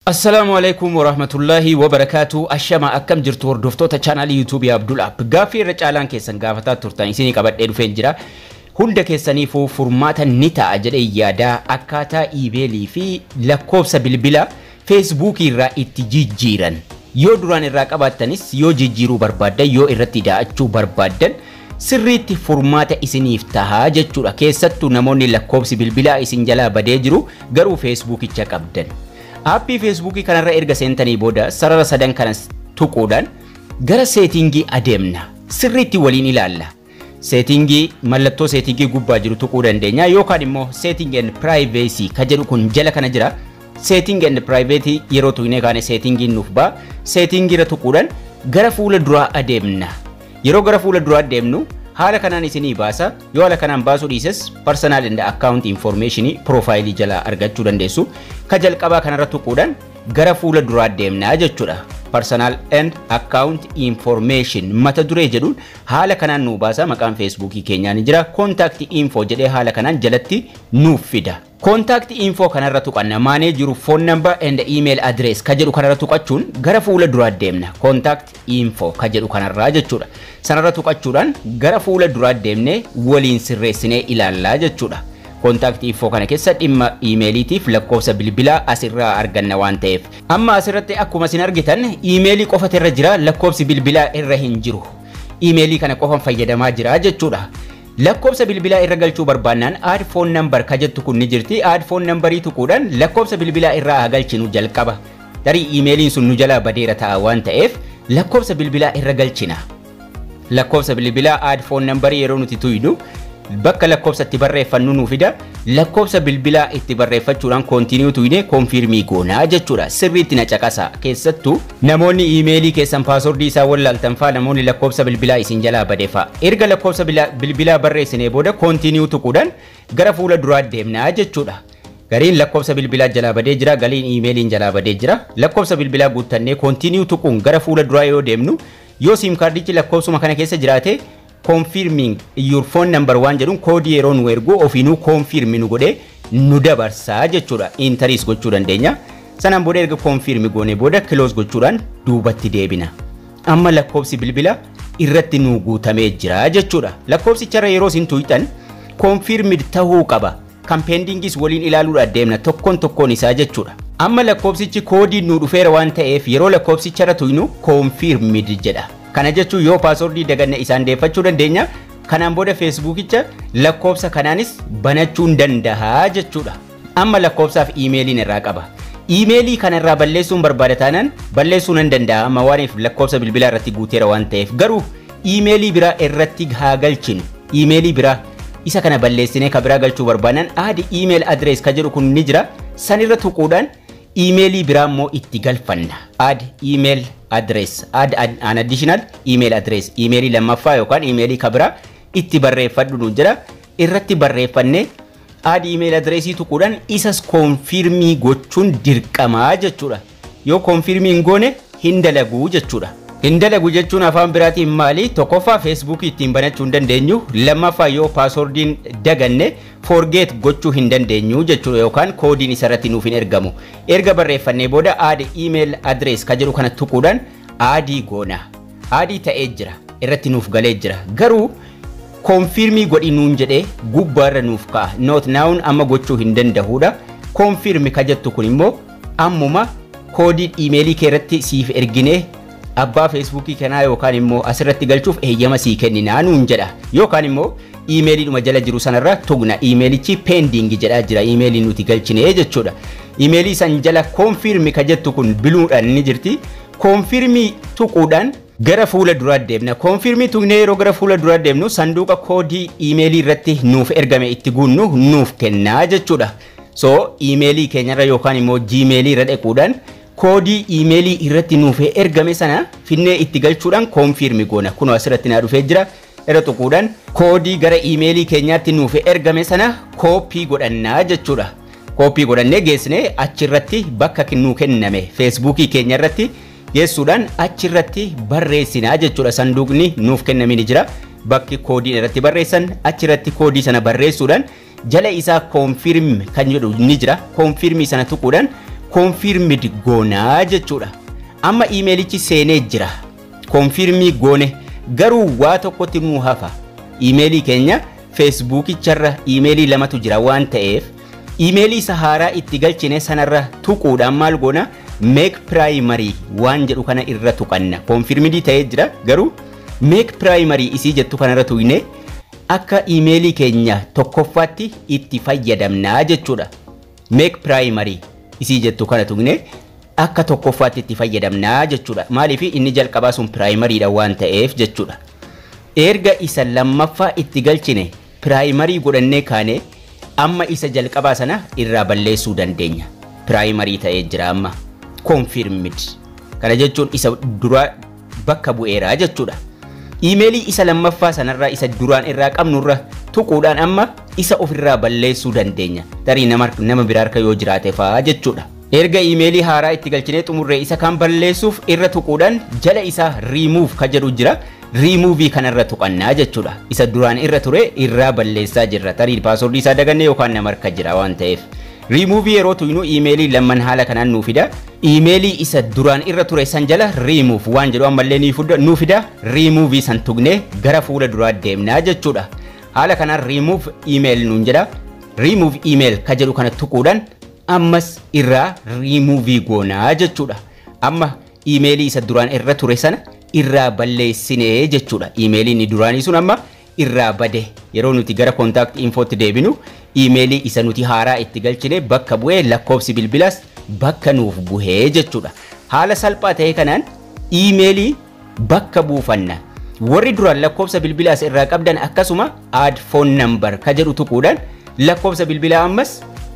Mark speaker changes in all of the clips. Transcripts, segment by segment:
Speaker 1: Assalaamu Aleykum Warahmatullaahi Wabarakaatuh Ashamaa akkam jirtu hordoftoota channel YouTube Abdul App gaaffii irra caalaan keessan gaafataa turtan isinii qabadhee dhufeen jira hunda keessaniifuu furmaata ni ta'a jedhee yaada akkaataa email fi lakkoofsa bilbila Facebook irraa itti jijjiiran yoo duraan irraa qabaattanis yoo jijjiiruu barbaaddan yoo irratti daa'achuu barbaaddan sirriitti furmaata isiniif taha jechuudha. Keessattu namoonni lakkoobsi bilbilaa isin jalaa badee jiru garuu feesbuukicha qabdan. Aappii feesbuukii kanarra erga seentanii booda sarara sadan kanas tuquudhaan gara seetiingii adeemna. Sirriitti waliin ilaalla. Seetiingii mallattoo seetiingii gubbaa jiru tuquu dandeenya yookaan immoo seeting and privacy ka jedhu kun jala kana jira. Seeting and privacy yeroo tuqnee kaane seetiingiin nuuf ba'a. Seetiingiirra tuquudhaan gara fuula duraa adeemna. Yeroo gara fuula duraa deemnu haala kanaan isinii baasa. Yoo haala kanaan baasuu dhiises personal and account information profaayilii jalaa argachuu dandeessu. Ka jalqabaa kanarra tuquudhaan gara fuula duraa deemnaa jechuudha. Personal and account information mata duree jedhuun haala kanaan nuu baasa. Maqaan feesbuukii keenyaa ni jira. Contact info jedhee haala kanaan jalatti nuuf fida. Contact info kanarra tuqanna. Maanee jiru phone number and email address ka jedhu kanarra tuqachuun gara fuula duraa deemna. Contact info ka jedhu kanarraa jechuudha. Sanarra tuqachuudhaan gara fuula duraa deemnee waliin sirreessinee ilaallaa jechuudha. Contact info kana keessa dhimma iimeeliitiif lakkoofsa bilbilaa asirraa arganna waan ta'eef. Amma asirratti akkuma isin argitan iimeelii qofatu irra jira lakkoofsi bilbilaa irra hin jiru. Iimeelii kana qofan fayyadamaa jira jechuudha. Lakkoofsa bilbilaa irra galchuu barbaannaan add phone number ka jettu kun ni jirti. Add phone number tuquudhaan lakkoofsa bilbilaa irraa haa galchinu jalqaba. Tarii iimeeliin sun nu jalaa badeera ta'a waan ta'eef lakkoofsa bilbilaa irra galchina. Lakkoofsa bilbilaa add phone number yeroo nuti tuynu bakka lakkoofsa itti barreeffannu nu fida. Lakkoofsa bilbilaa itti barreeffachuudhaan continue tuyne confirm goona jechuudha. Sirriitti na caqasaa keessattuu Namoonni iimeelii keessan paaswordii isaa wallaaltan fa'a namoonni lakkoofsa bilbilaa isin jalaa bade fa'a. Erga lakkoofsa bilbilaa barreessinee booda continue tuquudhaan gara fuula duraa deemna jechuudha. Gariin lakkoofsa bilbilaa jalaa badee jira, galiin iimeeliin jalaa badee jira. Lakkoofsa bilbilaa guuttannee continue tuquun gara fuula duraa yoo deemnu yoo siim kaardichi lakkoofsuma kana keessa jiraate confirming your phone number waan jedhuun koodii yeroo nu ergu ofiinuu confirm nu godhee nu dabarsa jechuudha. Intaris gochuu dandeenya. Sanaan booda erga confirm goonee booda close gochuudhaan duubatti deebina. Amma lakkoobsi bilbila irratti nu guutamee jira jechuudha. Lakkoobsicharra yeroo isin tuqxan confirmed tahuu qaba. kan pendingis waliin ilaaluudhaan deemna tokkoon tokkoon isaa jechuudha. Amma lakkoofsichi koodiin nuu dhufeera waan ta'eef yeroo lakkoofsicha irra tuynu confirmed jedha. Kana jechuun yoo paaswordii daganne isaan deeffachuu dandeenya. Kanaan booda feesbuukicha lakkoofsa kanaanis banachuun danda'a jechuudha. Amma lakkoofsaaf iimeeliin irraa qaba. Iimeelii kana irraa balleessuun barbaada taanaan balleessuu nan danda'a amma waaniif lakkoofsa bilbilaa irratti guuteera waan ta'eef garuu Iimeelii biraa irratti haa galchinu. Iimeelii biraa. Isa kana balleessinee ka biraa galchuu barbaannan add email address ka jedhu kun ni jira. San irra tuquudhaan iimeelii biraa immoo itti galfanna. Add email address. Add ad- an additional email address. Iimeelii lammaffaa yookaan iimeelii ka biraa itti barreeffadhu nu jedha. irratti barreeffanne add email address tuquudhaan isas konfirmii gochuun dirqamaa jechuudha. Yoo konfirmii hin goone hin dalagu jechuudha. Hin dalagu jechuun afaan biraatiin maali? Tokkoffaa Facebook ittiin banachuu hin dandeenyu. Lammaffaa yoo paaswordiin daganne forget gochuu hin dandeenyu jechuudha yookaan koodiin isarratti nuuf hin ergamu. Erga barreeffannee booda add email address ka jedhu kana tuquudhaan aadii goona. Aadii ta'ee jira irratti nuuf galee jira garuu confirm godhi nuun jedhee gubbaa irra nuuf ka'a not noun amma gochuu hin danda'uudha confirm ka jettu kun immoo ammuma koodii imeelii kee irratti siif erginee abbaa feesbuukii kanaa yookaan immoo asirratti galchuuf eeyyama sii kenninaa nuun jedha yookaan immoo imeelii dhuma jala jiru sanarra tugna imeelichi pending jedhaa jira imeelii nuti galchinee jechuudha imeelii san jala confirm ka jettu kun biluudhaan ni jirti Confirm tuquudhaan gara fuula duraa deemna. Confirm tuqnee yeroo gara fuula duraa deemnu sanduuqa koodii iimeelii irratti nuuf ergame itti guunnu nuuf kenna jechuudha. So iimeelii keenyarra yookaan immoo jiimeelii irra dhaquudhaan koodii iimeelii irratti nuuf ergame sana finnee itti galchuudhaan confirm goona. Kunoo asirratti naa dhufee jira. irra tuquudhaan koodii gara iimeelii keenyaatti nuuf ergame sana kooppii godhannaa jechuudha. Kooppii godhannee geessine achirratti bakka nuu kenname feesbuukii keenya irratti geessuudhaan achirratti barreessinaa jechuudha. Sanduuqni nuuf kenname ni jira. Bakki koodiin irratti barreessan achirratti koodii sana barreessuudhaan jala isaa confirm kan jedhu ni jira. Confirm sana tuquudhaan confirmed goonaa jechuudha. Amma iimeelichi seenee jira. Confirm goone garuu waa tokkotti nuu hafa. Iimeelii keenya feesbuukicharra iimeelii lamatu jira waan ta'eef iimeelii isa haaraa itti galchine sanarra tuquudhaan maal goona meek piraayimarii waan jedhu kana irra tuqanna. Confirmidii ta'ee jira garuu meek piraayimarii isii jettu kanarra tuqne Akka iimeelii keenya tokkoffaatti itti fayyadamna jechuudha. Make primary isii jettu kana tuqnee akka tokkoffaatti itti fayyadamna jechuudha. Maaliif inni jalqabaa sun primary dha waan ta'eef jechuudha. Erga isa lammaffaa itti galchine primary godhannee kaane amma isa jalqabaa sana irraa balleessuu dandeenya. Primary ta'ee jira amma. Confirmed. Kana jechuun isa duraa bakka bu'eera jechuudha. Iimeelii isa lammaffaa sanarraa isa duraan irraa qabnurra tuquudhaan amma isa ofirraa balleessuu dandeenya. Tarii nama, nama biraa harka yoo jiraate fa'aa jechuudha. Erga iimeelii haaraa itti galchinee xumurree isa kan balleessuuf irra tuquudhaan jala isaa remove ka jedhu jira. Remove kanarra tuqannaa jechuudha. Isa duraan irra ture irraa balleessaa jirra. Tarii paaswordii isaa dagannee yookaan nama harka jira waan ta'eef. Remove yeroo tuynu iimeelii lamman haala kanaan nuu fida. Iimeelii isa duraan irra ture san jala remove waan jedhu ammallee ni fudda, nu fida. Remove san tuqnee gara fuula duraa deemna jechuudha. Haala kanaan remove email nuun jedha. Remove email ka jedhu kana tuquudhaan ammas irraa remove goona jechuudha. Amma iimeelii isa duraan irra ture sana irraa balleessine jechuudha. Iimeelii inni duraanii sun amma irraa bade yeroo nuti gara contact info tti deebinu email isa nuti haaraa itti galchine bakka bu'ee lakkoofsi bilbilas bakka nuuf buhee jechuudha. Haala salphaa ta'ee kanaan email bakka buufanna. Warri duraan lakkoofsa bilbilaa as irraa qabdan akkasuma add phone number ka jedhu tuquudhaan lakkoofsa bilbilaa ammas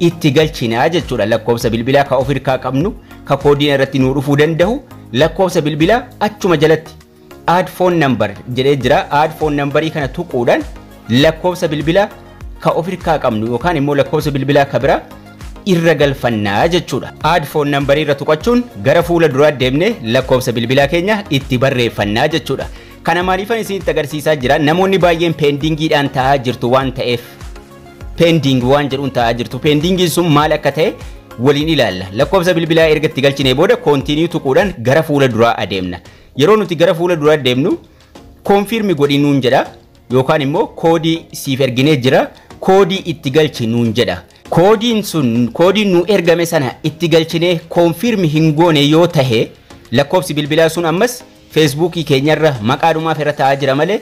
Speaker 1: itti galchinaa jechuudha. Lakkoofsa bilbilaa ka of hirkaa qabnu ka koodiin irratti nuu dhufuu danda'u lakkoofsa bilbilaa achuma jalatti Add phone number jedhee jira. Add phone number kana tuquudhaan lakkoofsa bilbila ka of irkaa qabnu yookaan immoo lakkoofsa bilbilaa ka bira irra galfannaa jechuudha. Add phone number irra tuqachuun gara fuula duraa deemne lakkoofsa bilbilaa keenya itti barreeffannaa jechuudha. Kana maaliifan isinitti agarsiisaa jira? Namoonni baay'een peendiingiidhaan taa'aa jirtu waan ta'eef peendiing waan jedhuun taa'aa jirtu. Peendiingiin sun maal akka ta'e waliin ilaalla. Lakkoofsa bilbilaa erga itti galchinee booda koontiiniyuu tuquudhaan gara fuula duraa adeemna. Yeroo nuti gara fuula duraa deemnu koonfiirmi godhi nuun jedha yookaan immoo koodii siif erginee jira koodii itti galchi nuun jedha. Koodiin sun koodiin nu ergame sana itti galchinee koonfiirmi hin goone yoo tahe lakkoofsi bilbilaa sun ammas feesbuukii keenyarra maqaa dhumaaf irra taa'aa jira malee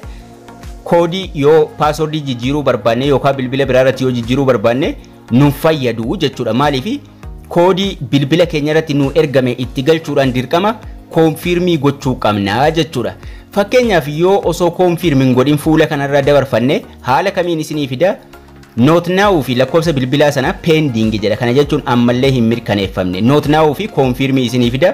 Speaker 1: koodii yoo paaswordii jijjiiruu barbaanne yookaan bilbila biraa irratti yoo jijjiiruu barbaanne nun fayyadu jechuudha. Maaliif koodii bilbila keenya irratti nu ergame itti galchuudhaan dirqama koonfiirmii gochuu qabna jechuudha. Fakkeenyaaf yoo osoo koonfiirmii hin godhin fuula kanarra dabarfanne haala kamiin isinii fida Noot naawuu fi lakkoofsa bilbilaa sana peendiingi jedha. Kana jechuun ammallee hin mirkaneeffamne. Noot naawuu fi koonfiirmii isinii fida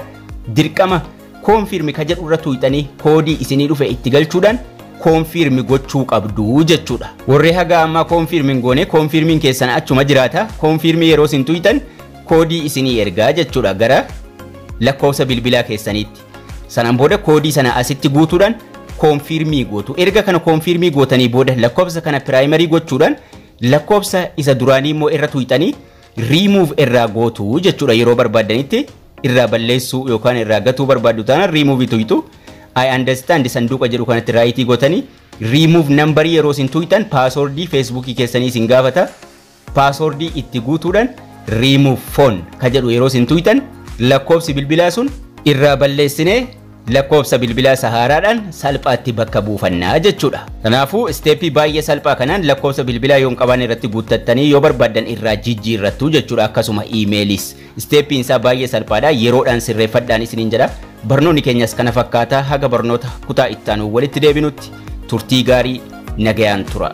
Speaker 1: dirqama Confirm ka jedhu irra tuuyxanii koodii isinii dhufe itti galchuudhaan confirm gochuu qabdu jechuudha. Warri haga ammaa confirm hin goone confirmiin keessan achuma jiraata. Confirm yeroo isin tuuyxan koodii isinii ergaa jechuudha gara lakkoofsa bilbilaa keessaniitti. Sanaan booda koodii sana asitti guutuudhaan confirm gootu. Erga kana confirm gootanii booda lakkoofsa kana primary gochuudhaan lakkoofsa isa duraanii immoo irra tuuyxanii remove irraa gootu jechuudha yeroo barbaaddanitti irraa balleessuu yookaan irraa gatuu barbaaddu taanaan remove tuytu I understand sanduuqa jedhu kanatti raayitii gotanii remove nambarii yeroo isin tuytan paasoordii feesbuukii keessanii isin gaafata paasoordii itti guutuudhaan remove phone ka jedhu yeroo isin tuytan lakkoobsi bilbilaa sun irraa balleessinee Lakkoofsa bilbilaa sahaaraadhaan salphaatti bakka buufanna jechuudha. Kanaafuu isteeppii baay'ee salphaa kanaan lakkoofsa bilbilaa yoo hin qabaanne irratti guuttattanii yoo barbaaddan irraa jijjiirrattu jechuudha akkasuma iimeeliis. Isteeppiin isaa baay'ee salphaadha yeroodhaan sirreeffadhaan isiniin jedha. Barnoonni keenyas kana fakkaata haga barnoota kutaa ittaanu walitti deebinutti turtii gaarii Nagayaan tura.